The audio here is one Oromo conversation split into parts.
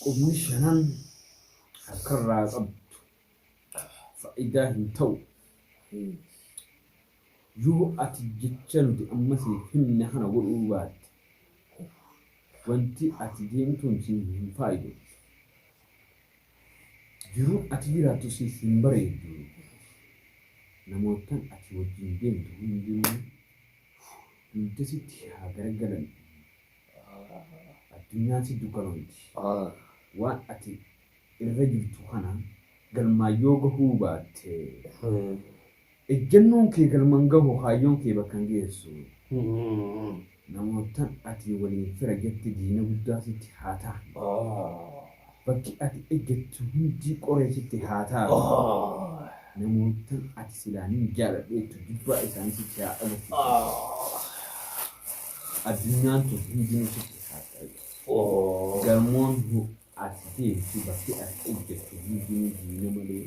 Qubni shanan harka irraa qabdu faayidaa hin ta'u. Yoo ati jecha nuti amma siif himne kana godhuu baatte wanti ati deemtuun si hin faayidu. Jiruun ati jiraattu siif hin bareedu. Namootaan ati wajjin deemtu hundinuu dugda sitti haa garagalan. Addunyaan siif dukkanoomti. Waan ati irra jirtu kana galmaan yoo gahuu baatte, ejjennoon kee galma hin gahu, kaayyoon kee bakka hin geessu. Namoottan ati waliin fira jette diina guddaa sitti haa ta'an. Bakki ati ejjettu hundi qoree sitti haa taa'u. Namoottan ati silaa nin jaaladha jettu jibbaa isaanii sitti haa agarsiisu. Addunyaan tun hundinuu sitti haa taa'u. Gamoon ati teessu, bakki ati ejjettu hundinuu diina malee.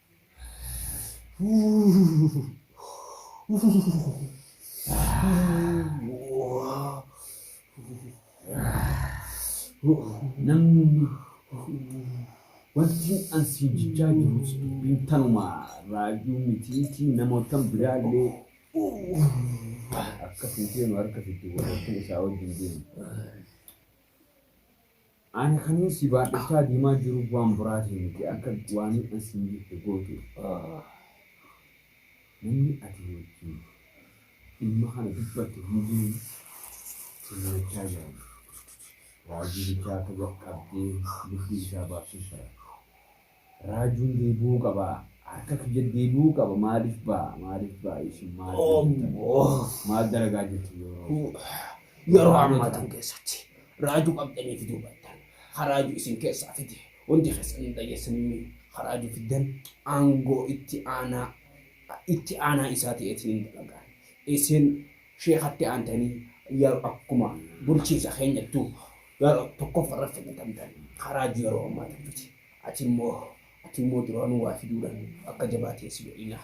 Namni wanti an siin jechaa jirus dubbiin tanuma raajuu mitiitii namootan biraallee akka fuuteenu harka fiddu warra kun isaa wajjin deemu. Ani kanin si baadhachaa deemaa jiru waan biraatiin miti akka waanin an siin jette gootuuf. Namni ati wajjin dhimma kana dubbatte hundinuu si nyaachaa jiran. Raajii bichaa akka jalqabdee lubbuu isaa baasuuf bara. Raajuun deebi'uu qaba harka kiyya deebi'uu qaba maaliif ba'a maaliif ba'a isin maal maal dalagaa jirtu yeroo yeroo ammaa tan keessatti raajuu qabdanii fiduu battan haraaju isin keessaa fide hundi keessan hin dhageessanimmi haraaju fiddan aangoo itti aanaa itti aanaa isaa ta'eetiin hin dalagaan isin sheekatti aantanii yeroo akkuma bulchiinsa keenyattuu yeroo tokkoffaa irratti filatamtan haraaju yeroo ammaa tan fide Ati immoo Ati immoo duraanuu waa fiduudhaan akka jabaa ta'e si godhina.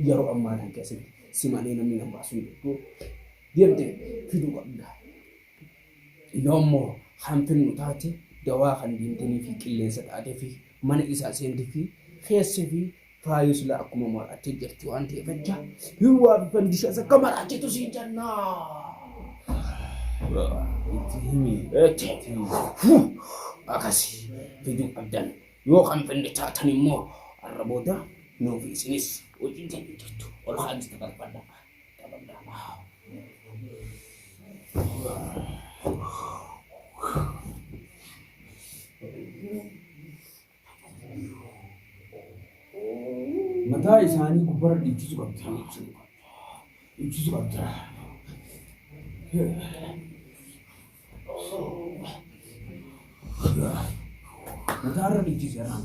Yeroo ammaa kana keessatti si malee namni nan baasu hin jirtu. Deemtee fiduu qabda. Yoo immoo kan fidnu taate dawaa kan deemtanii fi qilleensa taatee fi mana isaa seentee fi keessa fi Faayuu silaa akkuma maraatee jirti waan ta'eef jecha hirwaa fi fandishaas akka maraatetu siin jenna. Itti himi. Eetti. Akkasii fiduu qabdan yoo kan finne taatan immoo har'a booda nuuf isinis hojii ta'e jirtu ol haalis taphadha. Taphadha. Mataa isaanii gubbarra dhiichisu qabda. Dhiichisu qabda. Mataarra dhiichisi har'aan.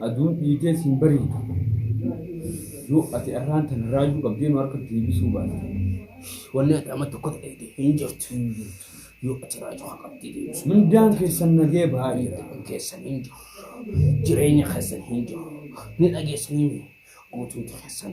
Aduun dhiitee siin bariitu. Yoo ati arraan tana raajuu qabdee nu harka deebisuu baate. Wanni ati amma tokko ta'e hin jirtu. Yoo ati raajuu haa qabdee deebisu. Mindaan keessan nagee baay'ee. Kan keessan hin jiru. Jireenya keessan hin jiru. Ni dhageessanii guutumti keessan.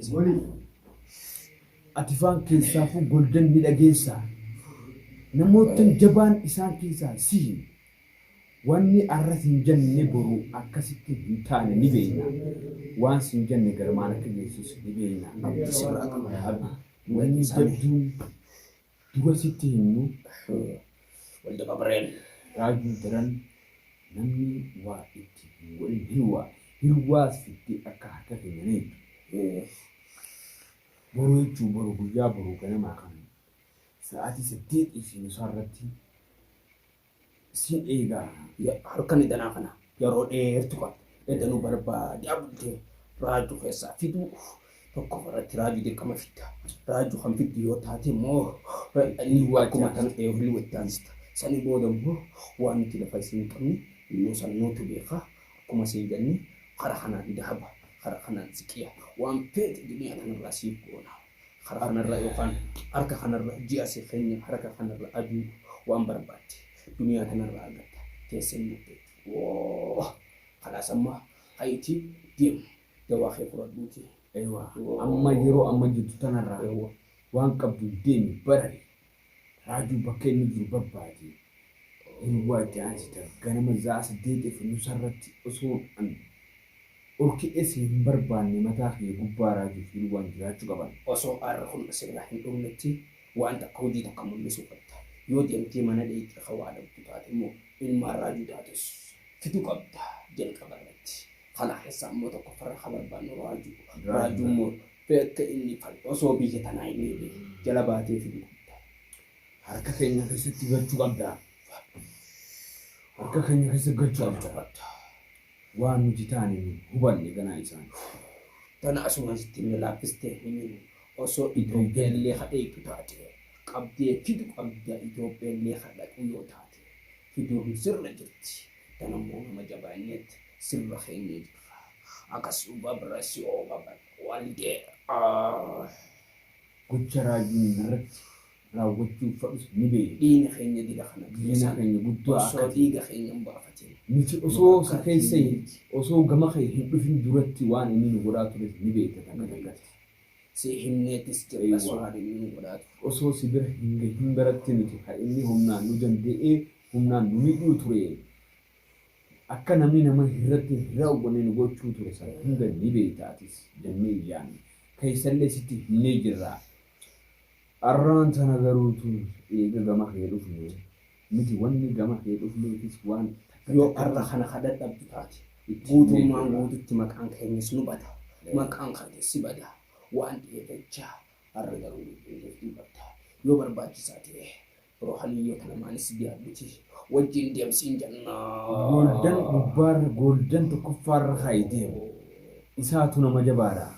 Ismoolii ati faan keessaafuu golden ni dhageessaa. Namoottan jabaan isaan keessaa sihi. Wanni arra sin jenne boru akkasitti hin taane ni beeyna. Waan sin jenne garmaan akka geessus ni beeyna. Abdii si biraa qaba yaa Abdii. Wanni jabduun Dhuga sitti himnu wal dababreen raajuu daran namni waa itti hin godhin hirwaa hirwaas fiddee akka harka keenya naydu uuff boru jechuu boru guyyaa boru ganamaa kan sa'aatii saddeetii fi nusaa irratti Sin eega harkan edanaa kana yeroo dheertu kan edanuu barbaadaa bultee raajuu keessaa fiduu tokko irratti raajuu dirqama fidda raajuu kan fiddu yoo taate immoo inni waajjira kan eegaluu itti aansita sani booda immoo waan nuti lafa isin qabne innuu san nuutu beeka akkuma siin jenne kara kanaan dahaba kara kanaan siqiya waan feete duniyaa kanarraa siif goona Karaa kanarra yookaan harka kanarra ji'a si keenya harka kanarra aduu waan barbaadde duniyaa tanarra argatta teessee hin murteettu. Woo! Kalaas amma hayitii deemu dawaa kee fudhadhuuti. Eewaa amma yeroo amma jirtu tanarraa waan qabduun deemi barari. Raajuu bakka inni jiru babbaadi. Hirwaa jaati ta ganama za'aa saddeetiif nusarratti osoon an dhorkidhee si hin barbaanne mataa kiyya gubbaa Raajuuf Hirwaan jiraachuu qaban. Osoo aarri kun sirraa hin dhumnetti waan takka hujii takka mullisuu qabda. Yoo deemtee mana dheeyxee ka waa dhabdu taate immoo ilmaan Raajuu taatus fiduu qabda jalqabarratti. Kana keessaa immoo tokkoffarra ka barbaannu Raajuu dha. Raajuu immoo Beekte inni fal osoo biyya tanaa hin eegne jala baatee fiduu qabda. Harka keenya keessatti galchuu qabda. Harka keenya keessa galchuu qabda. qabda. Waan nuti taane hin hubanne ganaa isaan. Tana asumaan sitti himne laaffistee hin himu. Osoo Itoophiyaa illee ka dheeyxu taate qabdee fidu qabda Itoophiyaa illee ka dhaqu yoo taate fiduun sirra jirti. Tana immoo nama jabaa innet sirra keennee jirra. Akas ubabrasiobabal. Waldee gocha raajonni narratti raawwachuuf fadhus ni beekna. Diina keenya diga kana Diina keessa keenya guddaa akka osoo ta'e. dhiiga keenya hin baafatin. Nuti osoo Akka si keessa hin- diinatti. osoo gama kee hin dhufin duratti waan inni nu godhaa tures ni beekta takka Ni beekta. takkatti. Si himneetis jirra Eewwa. waan inni nu godhaa ture. Osoo si bira hin gahin baratti nuti kan inni humnaan nu danda'ee humnaan nu miidhuu ture. Akka namni nama hirratti hin raawwanne nu gochuu ture sana hunda ni beekta atis, jennee iyyaanne. Keessallee sitti himnee jirra. Arraan tana garuu utuu eega gama kee dhufnee, nuti wanni gama kee dhufneefis waan takka Yoo takka arra kana ka dadhabdu taate, itti himnee guutummaan jirra. guututti maqaan keenyas nu bada, maqaan keetis si bada waan ta'eef jecha, arra garuu nu beeknee jirta. Yoo barbaachisaa ta'e, Ruhaniyyoota lamaanis biraa miti. Wajjiin deem siin jennaa. Gooldan gubbaarra gooldan tokkoffaarra kaa'i deemu. Isaatu nama jabaadha.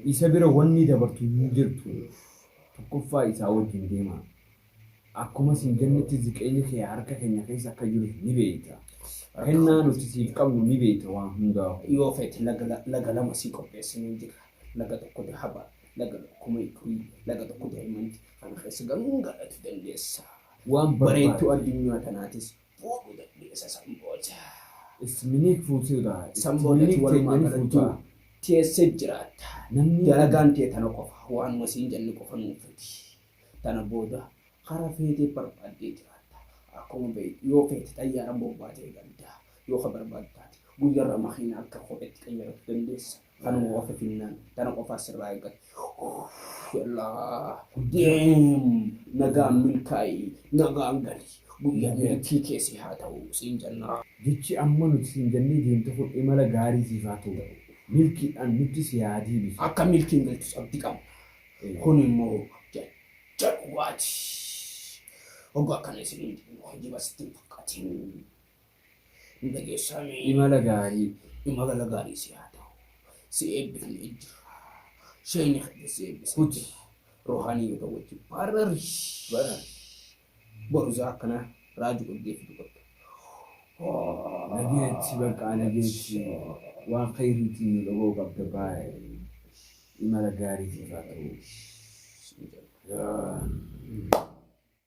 Isa bira wanni dabartu hin jirtu. Tokkoffaa isaa wajjiin deemaa. Akkuma siin jennetti ziqeeyni kee harka keenya keessa akka jirus ni beeyta. Kennaa nuti siif qabnu ni beeyta waan hundaahuu. Yoo feete laga lama sii qopheessineerra. Laga tokko dahaba, laga kuma ikrii, laga tokko daa'imanti. Kana keessa galuun galatu dandeessa. Waan bareedduu addunyaa tanaatis fuudhu dandeessa san booda. Is miniik fuutee irraa itti San boodati miniik walumaa teenyanii galattuu fuutaa. teessee jiraatta. Namni- Dalagaan tee tana qofa. Waanuma siin jenne qofa nuun fidi. Tana booda hara feetee barbaaddee jiraatta. Akkuma beektu yoo feete xayyaara bobbaatee galta. Yoo ka barbaaddu taate guyyarra makiina akka kopheetti qayyaratu dandeessa. Kanuma qofa finnaan. Kana qofa asirraa eeggata. Yallaa. Deem. Nagaan milkaa'ii. Nagaan gali. Guyyaa milkii keessi haa ta'u. Siin jannaa. Jechi amma nuti siin jannee deemte kun imala gaarii siif haa ta'u. Milkiidhaan nutti si haa deebisu. Akka milkiin galtus abdi qabna. Kun immoo jecha dhugaati. Hoggaa akkana isiniin jennu hojiba sitti hin fakkatin. Ni dhageessaa mee? Imala gaarii. Imala gaarii si haa ta'u. Si eebbifnee jirra. Sheeyni keenya si eebbisee Huti. jira. Ruhaaniyoota wajjin baarrarri. Bara. Boruzaa akkana raaji qabdee fidu qabda. Nageechi bakka nageechi waan khayriitiin nu dhagoo qabda baay'ee. Imala gaarii siif haa ta'u. Siin jedha.